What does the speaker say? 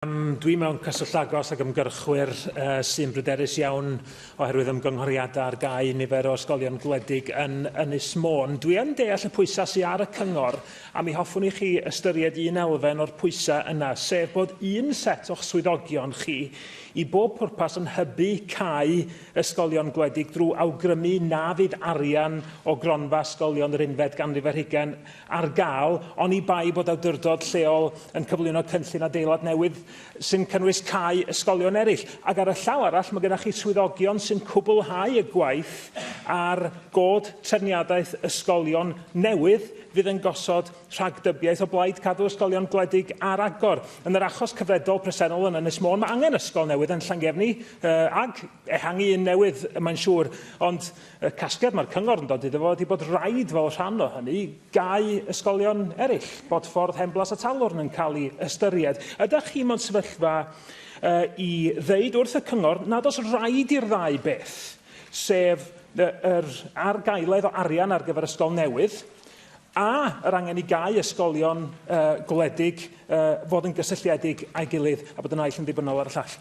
Dwi mewn cyswllt agos ag ymgyrchwyr sy'n bryderus iawn oherwydd ymgynghoriadau ar gau nifer o ysgolion gwledig yn Ynys Môn. Dwi yn deall y pwysau sydd ar y cyngor a mi hoffwn i chi ystyried un elfen o'r pwysau yna, sef bod un set o'ch swyddogion chi i bob pwrpas yn hybu cau ysgolion gwledig drwy awgrymu na fydd arian o gronfa ysgolion yr unfed ganrif ar hugain ar gael, oni bai bod awdurdod lleol yn cyflwyno cynllun adeilad newydd sy'n cynnwys cau ysgolion eraill. Ac ar y llaw arall, mae gennych chi swyddogion sy'n cwblhau y gwaith ar god trefniadaeth ysgolion newydd fydd yn gosod rhagdybiaeth o blaid cadw ysgolion gwledig ar agor. Yn yr achos cyfredol presennol yn Ynys Môn, mae angen ysgol newydd yn Llangefni, uh, ag ehangu un newydd, mae'n siŵr, ond Y casgliad mae'r cyngor yn dod iddo fo ydy bod rhaid fel rhan o hynny gau ysgolion eraill, Bodffordd, Henblas a Talwrn yn cael ei ystyried. Ydych chi mewn sefyllfa uh, i ddeud wrth y cyngor nad oes rhaid i'r ddau beth, sef yr argaeledd o arian ar gyfer ysgol newydd, a yr angen i gau ysgolion uh, gwledig uh, fod yn gysylltiedig a'i gilydd a bod y naill yn ddibynnol ar y llall?